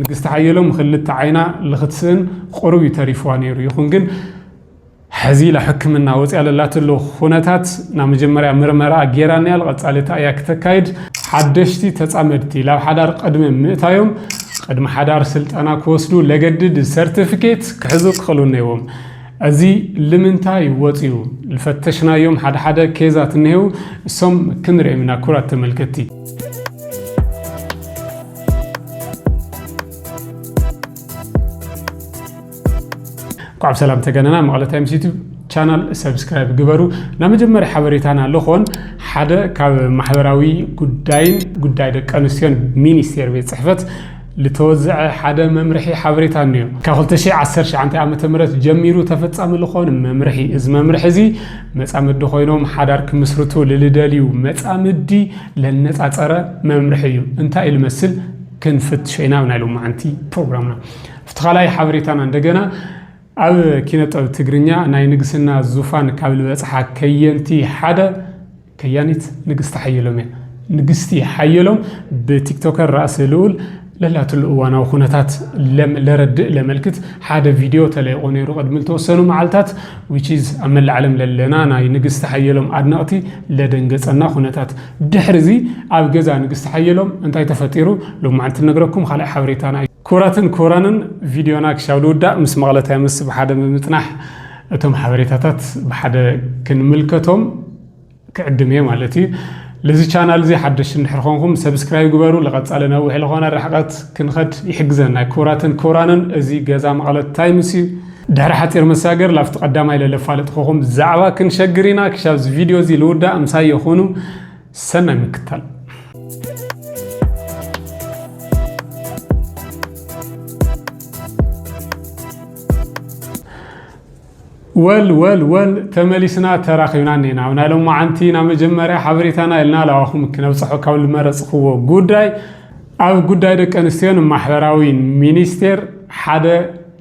ንግስቲ ሓየሎም ኽልተ ዓይና ልኽትስእን ቕሩብ እዩ ተሪፍዋ ነይሩ ይኹን ግን ሕዚ ላ ሕክምና ወፅያ ለላትሉ ኹነታት ናብ መጀመርያ ምርመራኣ ጌራ ንያል ቐፃሊ እታ እያ ክተካይድ። ሓደሽቲ ተፃመድቲ ላብ ሓዳር ቕድሚ ምእታዮም ቕድሚ ሓዳር ስልጠና ክወስዱ ለገድድ ሰርትፍኬት ክሕዙ ክኽእሉ እነይዎም እዚ ልምንታይ ወፅዩ ልፈተሽናዮም ሓደ ሓደ ኬዛት እነሄው እሶም ክንርኤም ኢና ኩራት ተመልከቲ። ቋዕ ሰላም ተገነና መቐለ ታይምስ ዩቱብ ቻናል ሰብስክራይብ ግበሩ ናብ መጀመርያ ሓበሬታና ልኾን ሓደ ካብ ማሕበራዊ ጉዳይን ጉዳይ ደቂ ኣንስትዮን ሚኒስቴር ቤት ፅሕፈት ዝተወዘዐ ሓደ መምርሒ ሓበሬታ እኒዮ ካብ 2019 ዓ ም ጀሚሩ ተፈፃሚ ልኾን መምርሒ እዚ መምርሒ እዚ መጻምዲ ኮይኖም ሓዳር ክምስርቱ ልልደልዩ መጻምዲ ለነጻጸረ መምርሒ እዩ። እንታይ እዩ ልመስል ክንፍትሾ ኢና ኣብ ናይ ሎማዓንቲ ፕሮግራምና። ኣብቲ ካልኣይ ሓበሬታና እንደገና ኣብ ኪነጠብ ትግርኛ ናይ ንግስና ዙፋን ካብ ልበጽሓ ከየንቲ ሓደ ከያኒት ንግስቲ ሓየሎም እያ። ንግስቲ ሓየሎም ብቲክቶከር ራእሲ ልኡል ለላትሉ እዋናዊ ኩነታት ለም ለረድእ ለመልክት ሓደ ቪድዮ ተለይቑ ነይሩ ቅድሚ ልተወሰኑ መዓልታት which is ኣብ መላእ ዓለም ለለና ናይ ንግስቲ ሓየሎም ኣድነቕቲ ለደንገጸና ኩነታት ድሕሪ እዚ ኣብ ገዛ ንግስቲ ሓየሎም እንታይ ተፈጢሩ ሎማዕንቲ ነግረኩም ካልኣይ ሓበሬታና እዩ። ክቡራትን ክቡራንን ቪድዮና ክሻብ ልውዳእ ምስ መቕለታይ ምስ ብሓደ ብምጽናሕ እቶም ሓበሬታታት ብሓደ ክንምልከቶም። ክዕድም እየ ማለት እዩ ልዚ ቻናል እዚ ሓደሽ እንድሕር ኾንኩም ሰብስክራይብ ግበሩ ልቐጻለ ነዊሕ ልኾነ ርሕቐት ክንኸድ ይሕግዘና ክቡራትን ክቡራንን እዚ ገዛ መቐለት ታይምስ እዩ ድሕሪ ሓፂር መሳገር ላብቲ ቀዳማይ ለለፋለጥ ኾኹም ዛዕባ ክንሸግር ኢና ክሻብ እዚ ቪድዮ እዚ ልውዳእ ምሳይ የኹኑ ሰናይ ምክታል ወል ወል ወል ተመሊስና ተራኺብና እኔና ኣብ ናይ ሎማዓንቲ ናብ መጀመርያ ሓበሬታና ኢልና ላባኹም ክነብፅሖ ካብ ልመረፅኽዎ ጉዳይ ኣብ ጉዳይ ደቂ ኣንስትዮን ማሕበራዊ ሚኒስቴር ሓደ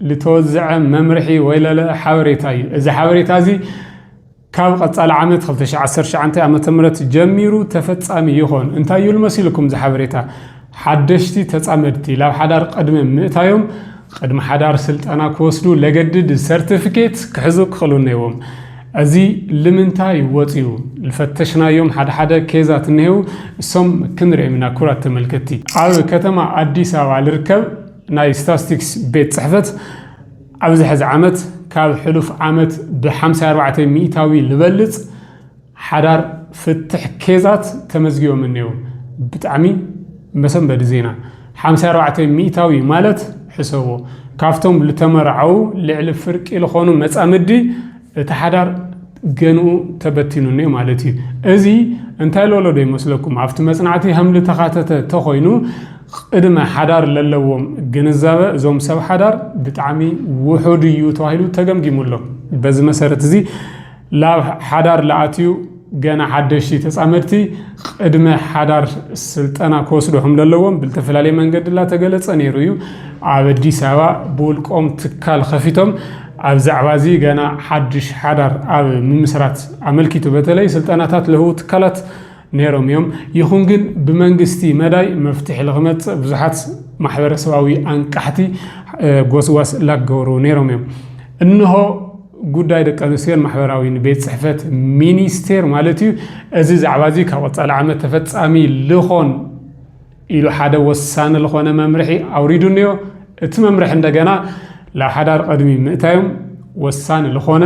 ልተወዝዐ መምርሒ ወይለለ ሓበሬታ እዩ እዚ ሓበሬታ እዚ ካብ ቐፃሊ ዓመት ክልተ ሽሕ ዓሰርተ ትሽዓተ ዓመተ ምህረት ጀሚሩ ተፈፃሚ ይኾን። እንታይ ይብል መሲልኩም እዚ ሓበሬታ? ሓደሽቲ ተፃመድቲ ላብ ሓዳር ቐድሚ ምእታዮም ቐድሚ ሓዳር ስልጠና ክወስዱ ለገድድ ሰርትፍኬት ክሕዙ ክኽእሉ ነይዎም። እዚ ልምንታይ ወፅዩ? ልፈተሽናዮም ሓደ ሓደ ኬዛት እነሄው እሶም ክንርኤም ኢና ክብራት ተመልከትቲ። ኣብ ከተማ ኣዲስ ኣበባ ልርከብ ናይ ስታስቲክስ ቤት ፅሕፈት፣ ኣብዚ ሕዚ ዓመት ካብ ሕሉፍ ዓመት ብሓምሳ ኣርባዕተ ሚእታዊ ልበልፅ ሓዳር ፍትሕ ኬዛት ተመዝጊቦም እኔዉ። ብጣዕሚ መሰንበዲ ዜና። ሓምሳ ኣርባዕተ ሚእታዊ ማለት ሕሰቦ ካብቶም ልተመርዓዉ ልዕሊ ፍርቂ ልኾኑ መፃምዲ እቲ ሓዳር ገንኡ ተበቲኑ እኔዉ ማለት እዩ። እዚ እንታይ ልበሎ ዶ ይመስለኩም ኣብቲ መፅናዕቲ ሀምልተኻተተ ተኾይኑ ቕድመ ሓዳር ለለዎም ግንዛበ እዞም ሰብ ሓዳር ብጣዕሚ ውሑድ እዩ ተባሂሉ ተገምጊሙ ኣሎ። በዚ መሰረት እዚ ላብ ሓዳር ለኣትዩ ገና ሓደሽቲ ተፃመድቲ ቕድመ ሓዳር ስልጠና ክወስዱ ከም ለለዎም ብልተፈላለየ መንገዲ ላተገለፀ ነይሩ እዩ። ኣብ ኣዲስ ኣበባ ብውልቆም ትካል ኸፊቶም ኣብ ዛዕባ እዚ ገና ሓድሽ ሓዳር ኣብ ምምስራት ኣመልኪቱ በተለይ ስልጠናታት ለህቡ ትካላት ነይሮም እዮም። ይኹን ግን ብመንግስቲ መዳይ መፍትሒ ልክመፅእ ብዙሓት ማሕበረሰባዊ ኣንቃሕቲ ጎስጓስ ላገበሩ ነይሮም እዮም። እንሆ ጉዳይ ደቂ ኣንስትዮን ማሕበራዊን ቤት ፅሕፈት ሚኒስቴር ማለት እዩ እዚ ዛዕባ እዚ ካብ ቀፃሊ ዓመት ተፈፃሚ ልኾን ኢሉ ሓደ ወሳኒ ዝኾነ መምርሒ ኣውሪዱ እኒኦ እቲ መምርሒ እንደገና ላብ ሓዳር ቅድሚ ምእታዮም ወሳኒ ዝኾነ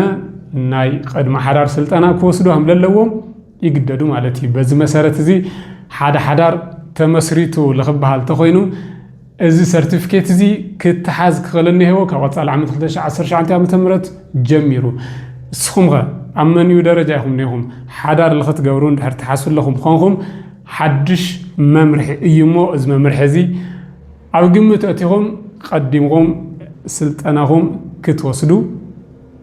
ናይ ቅድሚ ሓዳር ስልጠና ክወስዱ ከም ለለዎም ይግደዱ ማለት እዩ። በዚ መሰረት እዚ ሓደ ሓዳር ተመስሪቱ ልክበሃል ተኾይኑ እዚ ሰርቲፊኬት እዚ ክተሓዝ ክኽእል እኒሀዎ ካብ ቀፃሊ ዓመት 2019 ዓ ም ጀሚሩ እስኹም ኸ ኣብ መንዩ ደረጃ ኢኹም እኒኹም ሓዳር ልክትገብሩ እንድሕር ትሓስቡ ኣለኹም ኾንኹም ሓድሽ መምርሒ እዩ እሞ እዚ መምርሒ እዚ ኣብ ግምት ኣእቲኹም ቀዲምኹም ስልጠናኹም ክትወስዱ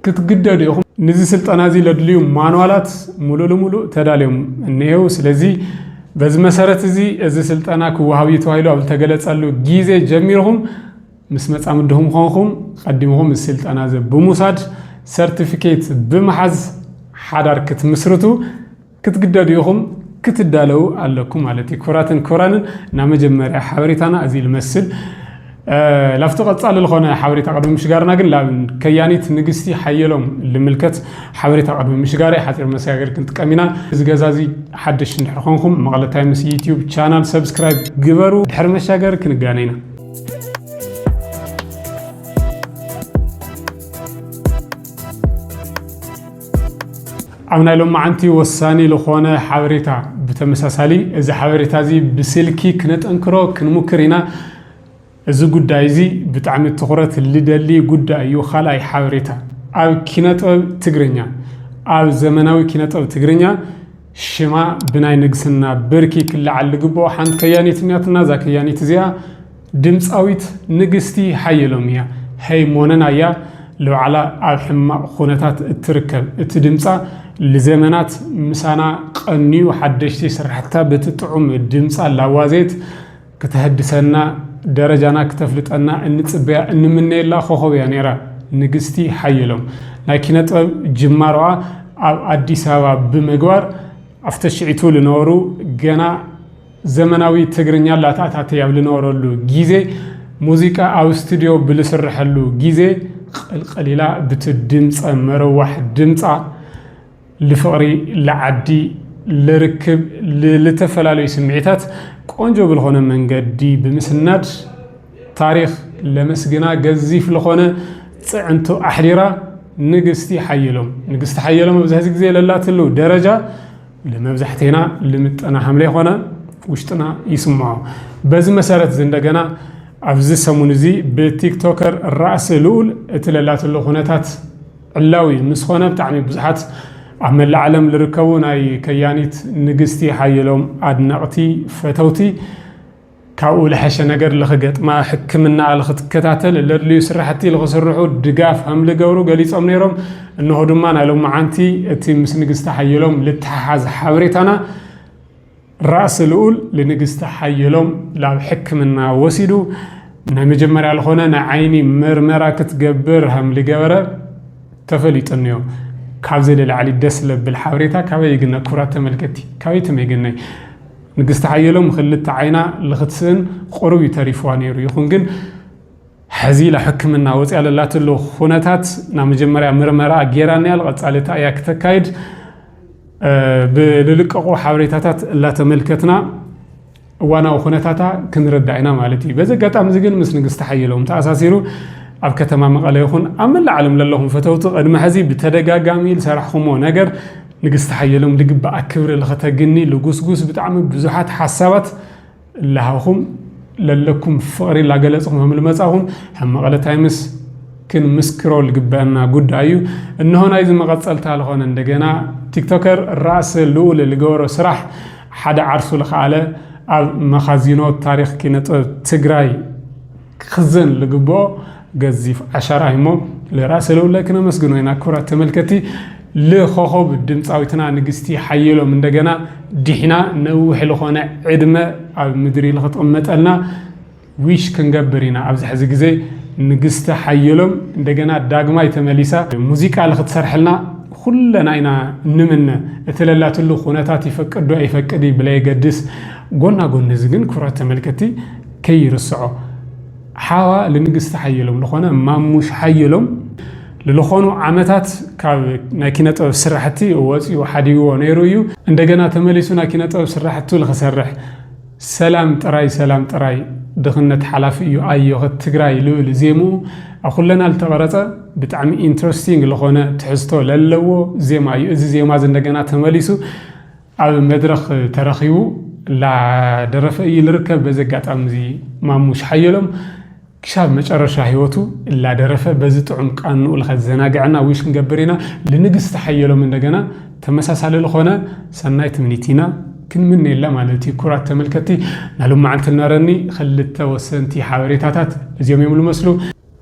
ክትግደዱ ኢኹም። ንዚ ስልጠና እዚ ለድልዩ ማንዋላት ሙሉእ ልሙሉእ ተዳልዮም እኒሄው። ስለዚ በዚ መሰረት እዚ እዚ ስልጠና ክወሃብ እዩ ተባሂሉ ኣብ ዝተገለፀሉ ጊዜ ጀሚርኹም ምስ መፃምድኹም ኾንኹም ቐዲምኹም እዚ ስልጠና እዚ ብምውሳድ ሰርቲፊኬት ብምሓዝ ሓዳር ክትምስርቱ ክትግደዱ ኢኹም ክትዳለው ኣለኩም ማለት እዩ። ክብራትን ክብራንን ናብ መጀመርያ ሓበሬታና እዚ ልመስል ላብቲ ቀጻሊ ዝኾነ ሓበሬታ ቅድሚ ምሽጋርና ግን ላብ ከያኒት ንግስቲ ሓየሎም ልምልከት ሓበሬታ ቅድሚ ምሽጋር ሓፂር መሰጋገሪ ክንጥቀም ኢና። እዚ ገዛ እዚ ሓደሽ እንድሕር ኮንኩም መቐለ ታይምስ ዩቲዩብ ቻናል ሰብስክራይብ ግበሩ። ድሕሪ መሻገሪ ክንጋነ ኢና። ኣብ ናይ ሎማዓንቲ ወሳኒ ልኾነ ሓበሬታ ብተመሳሳሊ እዚ ሓበሬታ እዚ ብስልኪ ክነጠንክሮ ክንሙክር ኢና እዚ ጉዳይ እዚ ብጣዕሚ ትኹረት ልደሊ ጉዳይ እዩ ካልኣይ ሓበሬታ ኣብ ኪነጥበብ ትግርኛ ኣብ ዘመናዊ ኪነጥበብ ትግርኛ ሽማ ብናይ ንግስና ብርኪ ክለዓል ልግብኦ ሓንቲ ከያኒት እኒኣትና እዛ ከያኒት እዚኣ ድምጻዊት ንግስቲ ሓየሎም እያ። ሀይ ሞነና እያ ልባዕላ ኣብ ሕማቅ ኹነታት እትርከብ እቲ ድምጻ ልዘመናት ምሳና ቀንዩ ሓደሽቲ ስራሕትታ በቲ ጥዑም ድምጻ ላዋዘየት ክተሀድሰና ደረጃና ክተፍልጠና እንጽበያ እንምነየላ ኾኾብ እያ ነይራ ንግስቲ ሓየሎም ናይ ኪነጥበብ ጅማሮኣ ኣብ ኣዲስ ኣበባ ብምግባር ኣብተሽዒቱ ልነበሩ ገና ዘመናዊ ትግርኛ ላተኣታተይ ኣብ ልነበረሉ ጊዜ፣ ሙዚቃ ኣብ ስቱድዮ ብልስረሐሉ ጊዜ፣ ቕልቕል ኢላ ብቲ ድምጸ መረዋሕ ድምጻ፣ ልፍቕሪ፣ ልዓዲ፣ ልርክብ፣ ልልተፈላለዩ ስምዒታት ቆንጆ ብልኾነ መንገዲ ብምስናድ፣ ታሪኽ ለመስግና ገዚፍ ልኾነ ጽዕንቶ ኣሕዲራ፣ ንግስቲ ሓየሎም፣ ንግስቲ ሓየሎም ኣብዚ ሕዚ ጊዜ ለላትሉ ደረጃ፣ ንመብዛሕቴና ልምጠና ሃምሌ ኮነ ውሽጥና ይስምዖ። በዚ መሰረት እዚ እንደገና ኣብዚ ሰሙን እዚ ብቲክቶከር ራእሲ ልኡል እቲ ለላትሎ ኩነታት ዕላዊ ምስ ኮነ ብጣዕሚ ብዙሓት ኣብ መላእ ዓለም ልርከቡ ናይ ከያኒት ንግስቲ ሓየሎም ኣድነቕቲ ፈተውቲ ካብኡ ልሐሸ ነገር ልክገጥማ ሕክምናኣ ልክትከታተል ለድልዩ ስራሕቲ ልክስርሑ ድጋፍ ሀምልገብሩ ገሊፆም ነይሮም። እነሆ ድማ ናይ ሎማዓንቲ እቲ ምስ ንግስቲ ሓየሎም ልተሓሓዝ ሓበሬታና ራእሲ ልኡል ልንግስቲ ሓየሎም ላብ ሕክምና ወሲዱ ናይ መጀመርያ ልኾነ ናይ ዓይኒ ምርመራ ክትገብር ሀምልገበረ ተፈሊጡ እኒኦ። ካብዚ ልላዕሊ ደስ ለብል ሓበሬታ ካበይ ይግነ ክብራት ተመልከቲ ካበይ ትመይ ግነይ ንግስቲ ሓየሎም ኽልተ ዓይና ልኽትስእን ቑሩብ እዩ ተሪፍዋ ነይሩ ይኹን ግን ሐዚ ኢላ ሕክምና ወፂኣ ለላትሉ ኹነታት ናብ መጀመርያ ምርመራኣ ጌራ ኒያል ቐፃሊ ታይ እያ ክተካይድ ብልልቀቑ ሓበሬታታት እላተመልከትና እዋናዊ ኹነታታ ክንርዳእ ኢና ማለት እዩ። በዚ ኣጋጣሚ እዚ ግን ምስ ንግስቲ ሓየሎም ተኣሳሲሩ ኣብ ከተማ መቐለ ይኹን ኣብ መላእ ዓለም ለለኹም ፈተውቲ ቕድሚ ሐዚ ብተደጋጋሚ ልሰራሕኹምዎ ነገር ንግስቲ ሓየሎም ልግበኣ ክብሪ ልኸተግኒ ልጉስጉስ ብጣዕሚ ብዙሓት ሓሳባት እላሃኹም ለለኩም ፍቕሪ ላገለጽኹም ከም ልመጻኹም ከም መቐለ ታይምስ ክንምስክሮ ልግበእና ጉዳይ እዩ እነሆ ናይዚ መቐጸልታ ልኾነ እንደገና ቲክቶከር ራእሲ ልኡል ልገበሮ ስራሕ ሓደ ዓርሱ ልኸኣለ ኣብ መኻዚኖ ታሪኽ ኪነጥበብ ትግራይ ክኽዘን ልግብኦ ገዚፍ ዓሻራ እዩሞ ልራእሲ ልኡለ ክነመስግኖ ኢና። ክብራት ተመልከቲ ልኾኾብ ድምጻዊትና ንግስቲ ሓየሎም እንደገና ዲሕና ነዊሕ ልኾነ ዕድመ ኣብ ምድሪ ልክትቕመጠልና ዊሽ ክንገብር ኢና። ኣብዚ ሕዚ ግዜ ንግስቲ ሓየሎም እንደገና ዳግማይ ተመሊሳ ሙዚቃ ልክትሰርሐልና ኩለና ኢና ንምነ። እቲ ለላትሉ ኩነታት ይፈቅድዶ ኣይፈቅድ እዩ ብለየገድስ ጎና ጎኒ እዚ ግን ክብራት ተመልከቲ ከይርስዖ ሓዋ ልንግስቲ ሓየሎም ልኾነ ማሙሽ ሓየሎም ልልኾኑ ዓመታት ካብ ናይ ኪነ ጥበብ ስራሕቲ ወፂኡ ሓዲግዎ ነይሩ እዩ። እንደገና ተመሊሱ ናይ ኪነ ጥበብ ስራሕቱ ልክሰርሕ ሰላም ጥራይ ሰላም ጥራይ ድኽነት ሓላፊ እዩ ኣዮኸ ትግራይ ልብል ዜምኡ ኣብ ኹለና ልተቐረፀ ብጣዕሚ ኢንትረስቲንግ ልኾነ ትሕዝቶ ለለዎ ዜማ እዩ። እዚ ዜማ እዚ እንደገና ተመሊሱ ኣብ መድረኽ ተረኺቡ እላደረፈ እዩ ልርከብ። በዚ ኣጋጣሚ እዚ ማሙሽ ሓየሎም ክሻብ መጨረሻ ህይወቱ እላደረፈ በዚ ጥዑም ቃንኡ ልኸዘናግዐና ዊሽ ክንገብር ኢና። ልንግስቲ ሓየሎም እንደገና ተመሳሳሊ ልኾነ ሰናይ ትምኒት ኢና ክንምነየላ ማለት እዩ። ኩራት ተመልከቲ ናሉማዓንቲ ነረኒ ክልተ ወሰንቲ ሓበሬታታት እዚኦም እዮም ልመስሉ።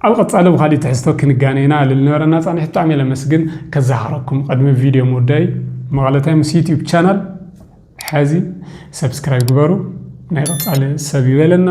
ኣብ ቐጻሊ ብኻሊእ ትሕዝቶ ክንጋነ ኢና እልል ነበረና ጻኒሒት ብጣዕሚ ለመስግን ከዛኻረኩም ቐድሚ ቪድዮ ምውዳይ መቐለ ታይምስ ዩትዩብ ቻናል ሐዚ ሰብስክራይብ ግበሩ ናይ ቐጻሊ ሰብ ይበለና